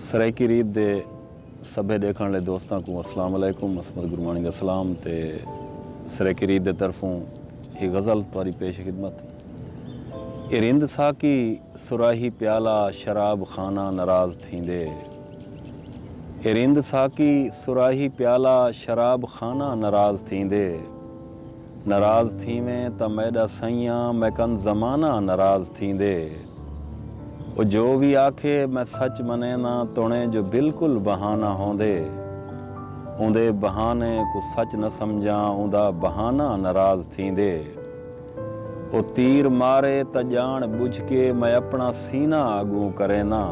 سرائیکی ریت دے سبھے ڈیکھن آلے دوستاں کوں السلام علیکم عصمت گرمانی دا سلام تے سرائیکی ریت دے طرفوں ہی غزل تہاڈی پیش خدمت اے رند ساقی سراہی پیالہ شراب خانہ نراض تھیندے اے رند ساقی سراہی پیالہ شراب خانہ نراض تھیندے۔ نراض تھیویں تاں میݙا سئیاں میکن زمانہ نراض تھیندے او جو وی آکھے میں سچ منینداں توݨیں جو بالکل بہانہ ہوندے اوندے بہانے کوں سچ نہ سمجھاں اوندا بہانہ نراض تھیندے او تیر مارے تاں ڄاݨ ٻجھ کے میں اپݨا سینہ اڳوں کرینداں۔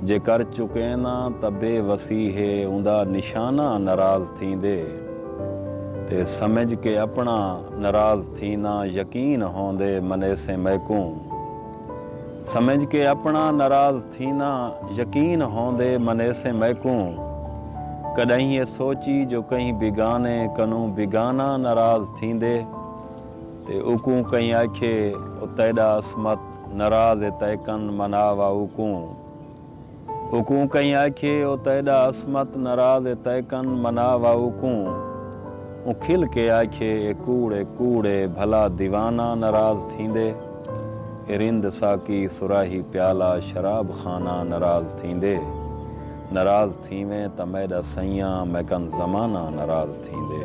جے کر چکین آں تاں بے وسی ہے اوندا نشانہ ناراض تھیندے تے سمجھ کے اپنا ناراض تھینا یقین ہوندے منیسیں میکوں سمجھ کے اپنا ناراض تھینا یقین ہوندے منیسیں میکوں کڈاہیں اے سوچی جو کہیں بیگانے کنوں بیگانہ ناراض تھیندے۔ تے اوکوں کہیں آکھیے او تیݙا عصمت ناراض ہے تئیں کن منا وا اوکوں اوکوں کہیں آکھیے او تیݙا عصمت ناراض ہے تئیں کن منا وا اوکوں اوں کھل کے آکھیے اے کوڑ ہے کوڑ ہے بھلا دیوانہ ناراض تھیندے اے رند ساقی صراحی پیالہ شراب خانہ ناراض تھیندے ناراض تھیویں تاں میݙا سئیاں میکن زمانہ ناراض تھیندے۔